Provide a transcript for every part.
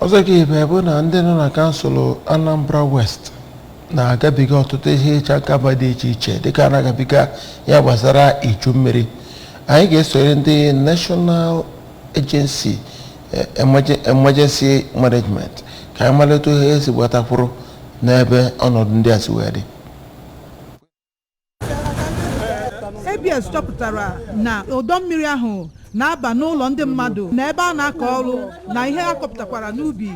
ọzọ ka ibe bụ na ndị nọ na kansụl anambra west na-agabiga ọtụtụ ihe ịcha aka mgba dị iche iche dịka a na-agabiga ya gbasara iju mmiri anyị ga-esoro ndị national agency eh, Emergen- emergency management ka anyị malite ihe esi gbatakwuru n'ebe ọnọdụ ndị a si wee dị ABS chọpụtara na ọdọ mmiri ahụ na-aba n'ụlọ ndị mmadụ na ebe a na-akọ ọrụ na ihe a kọpụtakwara n'ubi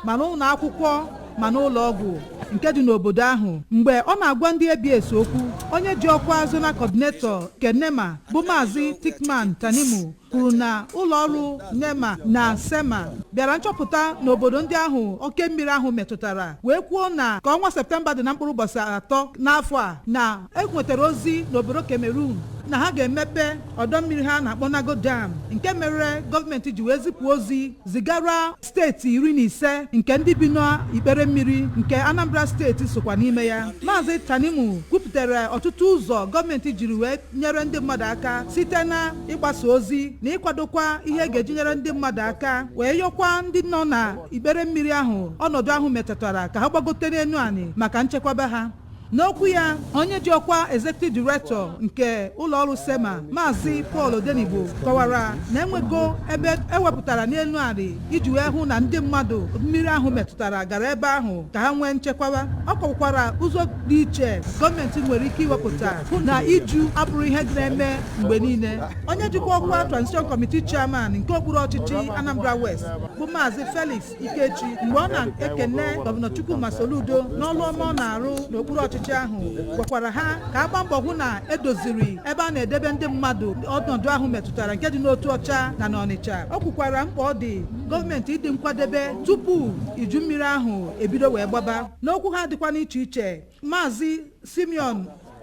ma n'ụlọ akwụkwọ ma n'ụlọ ọgwụ nke dị n'obodo ahụ mgbe ọ na-agwa ndị ABS okwu onye ji ọkwa zonal coordinator nke NEMA bụ maazị Thickman Tanimu kwuru na ụlọọrụ NEMA na SEMA bịara nchọpụta n'obodo ndị ahụ oke mmiri ahụ metụtara wee kwuo na ka ọnwa septemba dị na mkpụrụ ụbọchị atọ n'afọ a na e nwetara ozi n'obodo Cameroon na ha ga-emepe ọdọ mmiri ha na-akpọ Lagdo dam nke mere gọọmenti ji wee zipụ ozi zigara steeti iri na ise nke ndị bi n'ikpere mmiri nke Anambra steeti sokwa n'ime ya Maazị Tanimu kwupụtara ọtụtụ ụzọ gọọmenti jiri wee nyere ndị mmadụ aka site na ịgbasa ozi na ịkwadokwa ihe ga-eji nyere ndị mmadụ aka wee yọkwa ndị nọ na ikpere mmiri ahụ ọnọdụ ahụ metụtara ka ha gbagote n'elu anị maka nchekwaba ha N'okwu ya, onye ji ọkwa Executive Director nke ụlọọrụ SEMA, Maazị Paul Odenigbo kọwara na enwego ebe ewepụtara n'elu anị iji wee hụ na ndị mmadụ mmiri ahụ metụtara gara ebe ahụ ka ha nwee nchekwaba. Ọ kọwakwara ụzọ dị iche gọọmenti nwere ike iwepụta hụ na iju abụrọ ihe na-eme mgbe niile. Onye jikwa ọkwa Transition Committee Chairman nke okpuru ọchịchị Anambra West bụ Maazị Felix Ikechi mgbe ọ na-ekene gọvanọ Chukwuma Soludo n'ọrụ ọma ọ na-arụ n'okpuru ọchịchị ahụ gwakwara ha ka a gbaa mbọ hụ na edoziri ebe a na-edebe ndị mmadụ ọnọdụ ahụ metụtara nke dị n'Otuọcha na n'Ọnịcha o kwukwara mkpa ọ dị gọọmenti ịdị nkwadebe tupu iju mmiri ahụ ebido wee gbaba n'okwu ha dịkwa n'iche iche maazị Simeon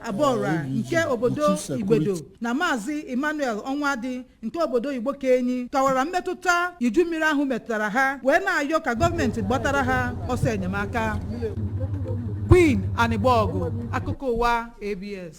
Abọra nke obodo Igbedo na maazị Emmanuel Ọnwadị nke obodo Igbokenyi kọwara mmetụta iju mmiri ahụ metụtara ha wee na-ayọ ka gọọmenti gbatara ha ọsọ enyemaka Queen Anigbọgụ akụkọ ụwa ABS